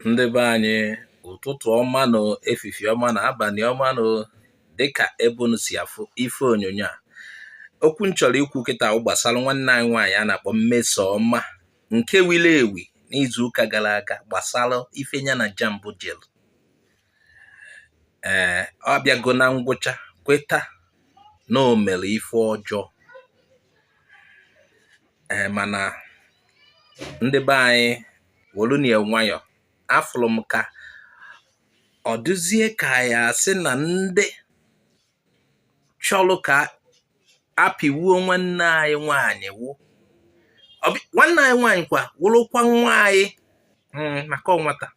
ndị be anyị ụtụtụ ọma nụ efifie ọma nụ abalị ọma nụ dịka ebe unu si afụ ife onyonyo a okwu m chọrọ ikwu kịta wụ gbasara nwanne anyị nwaanyị a na-akpọ Mmesoma nke wiri ewi n'izuụka gara aga gbasara ife ya na JAMB jelu ee ọ bịago na ngwụcha kweta na o mere ife ọjọọ ee mana ndị be anyị wolunu ya nwayọ afụrụ m ka ọ dịzie ka ya asị na ndị chọlụ ka apịwuo nwanne anyị nwaanyị ewu nwanne anyị nwaanyị kwa wụrụkwa nwa anyị hmm, maka ọ nwata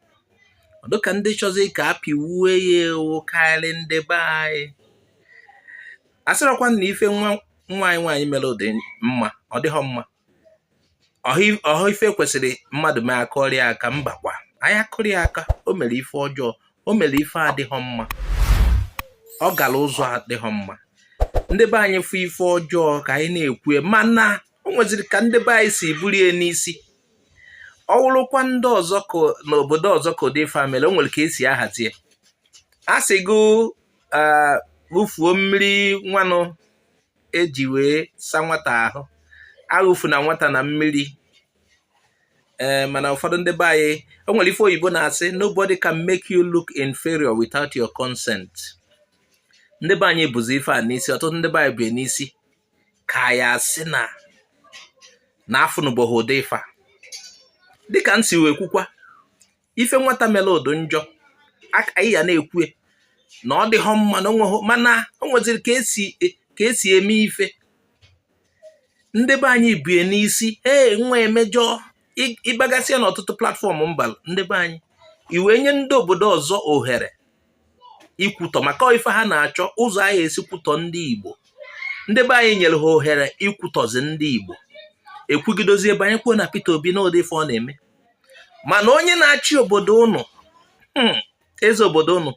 ọ dị ka ndị chọzi ka apịwuo ya ewu karị ndị be anyị asịrọkwa na ife nwa anyị nwaanyị mere dị mma ọ dịghọ mma ọhọ ife kwesịrị mmadụ mee akụọrọ ya aka mbakwa anyị akụrọ ya aka o mere ife ọjọọ o mere ife adịghọ mma ọ gara ụzọ adịghọ mma ndị be anyị fụ ife ọjọọ ka anyị na-ekwu mana o nweziri ka ndị be anyị si burie n'isi ọ wụrụkwa ndị ọzọ n'obodo ọzọ ka ụdị ife mere o nwere ka esi ahazie a sị gị wụfuo mmiri nwanụ eji wee sa nwata ahụ awụfuna nwata na mmiri ee eh, mana ụfọdụ ndị be anyị o nwere ife oyibo na-asị nobody can make you look inferior without your consent ndị be anyị buzi ife a n'isi ọtụtụ ndị be anyị bu n'isi ka ya asị na na afụnụbọghị ụdị ife a dịka m si wee kwukwa ife nwata mere dị njọ anyị ya na-ekwu na ọ dịghọ mma na onweghị mana o nweziri ka esi eme ife ndị be anyị bu ya n'isi ee nwa emejọ ịgbagasịa n'ọtụtụ platform mba ndị be anyị ị wee nye ndị obodo ọzọ ohere ikwutọ maka ife ha na-achọ ụzọ a ya-esi kwutọ ndị Igbo ndị be anyị nyere ha ohere ikwutọzi ndị Igbo ekwugidozie banyekwuo na Peter Obi na ụdị ife ọ na-eme mana onye na-achị obodo unu hmm, eze obodo unu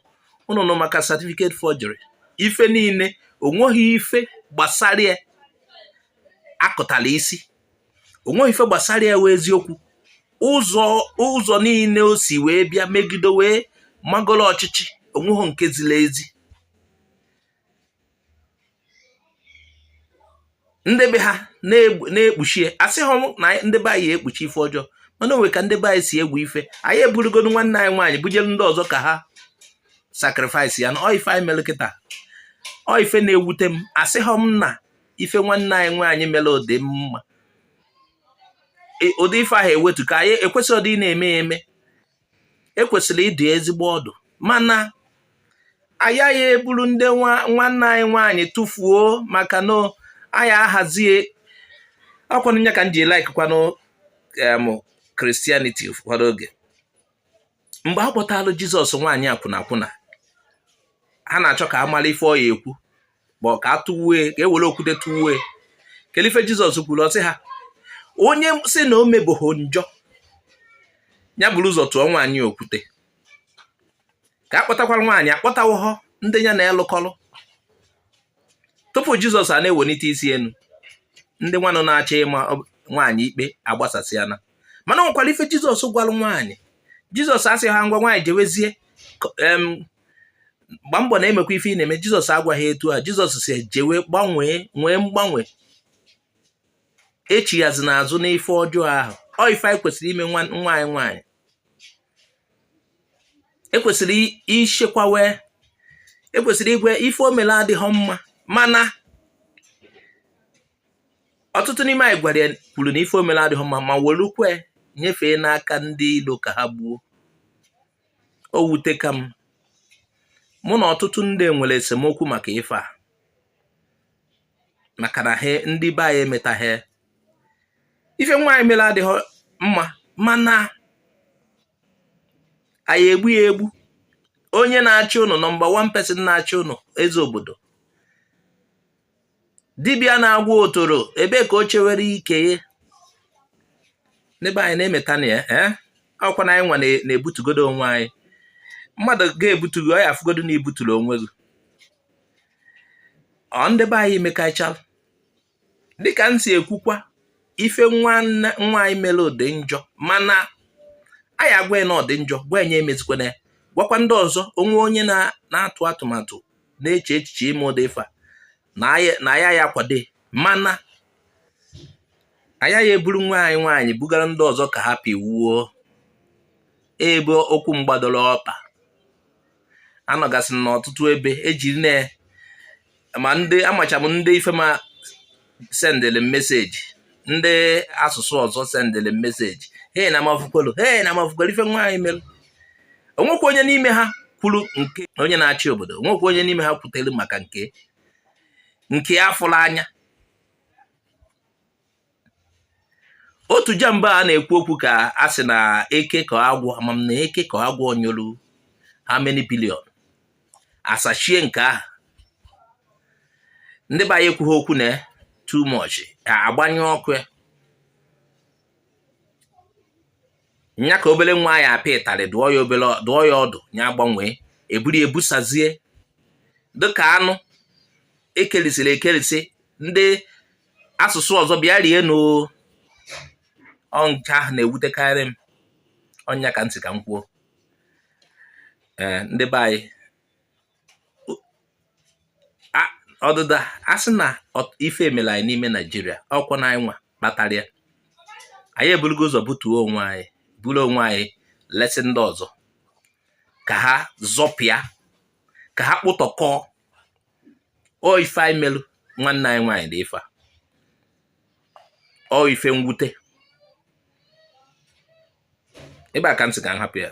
unu nụ maka certificate forgery ife niile onweghị ife gbasara ya akọtara isi onweghọ ife gbasara ya wụ eziokwu ụzọ niile o si wee bịa megide wee magoro ọchịchị onweghị nke ziri ezi ndị be ha na-ekpuchie asịghọ na ndị be anyị ekpuchi ife ọjọọ mana o nwe ka ndị be anyị si ewe ife anyị eburugodo nwanne anyị nwaanyị bujere ndị ọzọ ka ha sacrifice ya na ọ ife anyị mere kịta ọ ife na-ewute m asịghọ m na ife nwanne anyị nwaanyị mere ọ dị mma e, ụdị ife ahụ ewetu ka anyị ekwesịrị ọdị na-eme ya eme ekwesịrị ịdụ ya ezigbo ọdụ mana a yaghị eburu ndị nwanne anyị nwaanyị tụfuo maka na anyị ahazie ọ kwanụ nya ka m ji like kwanụ christianity ụfọdụ oge mgbe a kpọtalụ jizọs nwaanyị akwụna akwụna ha na-achọ ka a mara ife ọ ya ekwu bụ ka a tụwue ka e were okwute tụwue kedu ife jizọs kwuru ọ sị ha onye sị na o mebeghị njọ ya buru ụzọ tụọ nwaanyị okwute ka a kpọtakwara nwaanyị akpọtawụhọ ndị ya na-elụkọlụ tupu jizọs a na-ewenite isi enu ndị nwanụ na-achọ ịma nwaanyị ikpe agbasasịana mana o nwekwara ife jizọs gwara nwaanyị jizọs asịhọ ngwa nwaanyị jewezie gbaa mbọ na-emekwa ife ị na-eme jizọs agwaghị etu a jizọs sị jewe gbanwee nwee mgbanwe echighazi n'azụ n'ife ọjọọ ahụ ọ ife anyị kwesịrị ime nwa anyị nwaanyị ekwesịrị ichekwawe ekwesịrị ịgwa ya ife o mele adịghị mma mana ọtụtụ n'ime anyị gwara ya kwuru na ife o mele adịghị mma ma welukwe nyefee n'aka ndị ilo ka ha gbuo o wuteka m mụ na ọtụtụ ndị nwere esemokwu maka ife a maka na ha ndị be anyị emetaghị ife nwaanyị mere adịghị mma mana anyị egbu ya egbu onye na-achị ụnụ number one person na-achị ụnụ eze obodo dibịa na-agwọ otoro ebe ka o chewere ike ya ndị be anyị na-emeta na ya eh? ọ bụkwa na anyị nwa na-ebutugodo onwe anyị mmadụ ga-ebutu gị ọ ya afụgodo na i buturu onwe gị ọ ndị be anyị mekachala dịka m si ekwukwa ife nwaanyị mere dị njọ mana a ya-agwa na ọ dị njọ gwa nya emezikwana ya gwakwa ndị ọzọ o nwee onye na-atụ atụmatụ na-eche echiche ime ụdị ife a na ya ya kwado mana a yaghị eburu nwa anyị nwaanyị bugara ndị ọzọ ka ha pịwuo ebe okwu m gbadoro ọkpa anọgasị n'ọtụtụ ebe ejiri na ma ndị amacha m ndị ife ma sendịrị m meseji ndị asụsụ ọzọ sendịrị m meseji he na m afụkwalụ he na m afụkwalụ ife nwaanyị mere o nwekwa onye n'ime ha kwuru nke onye na-achị obodo o nwekwa onye n'ime ha kwutere maka nke nke afụlụ anya otu jamb a na-ekwu okwu ka a sị na eke ka agwọ ama m na eke ka agwọ nyolu how many billion asachie nke ahụ ndị be anyị ekwughị okwu na too much ka agbanyụ ọkụ ya nya ka obere nwa ya apịa ịtarị dụọ ya ọdụ nya gbanwee eburu ebusazie dịka anụ ekerisịrị ekerisị ndị asụsụ ọzọ bịa rie n'ọ nke ahụ na-ewutekarị m ọ nya ka m sị ka m kwuo ee ndị be anyị ọdịda a sị na ife emere anyị n'ime naijiria ọkwa na anyị nwa kpatara ya anyị eburugo ụzọ butuo onwe anyị buru onwe anyị lesi ndị ọzọ ka ha zọpịa ka ha kpụtọkọọ ọ ife anyị melụ nwanne anyị nwaanyị dị ife a ọ ife mwute ebe a ka m sị ka m hapụ ya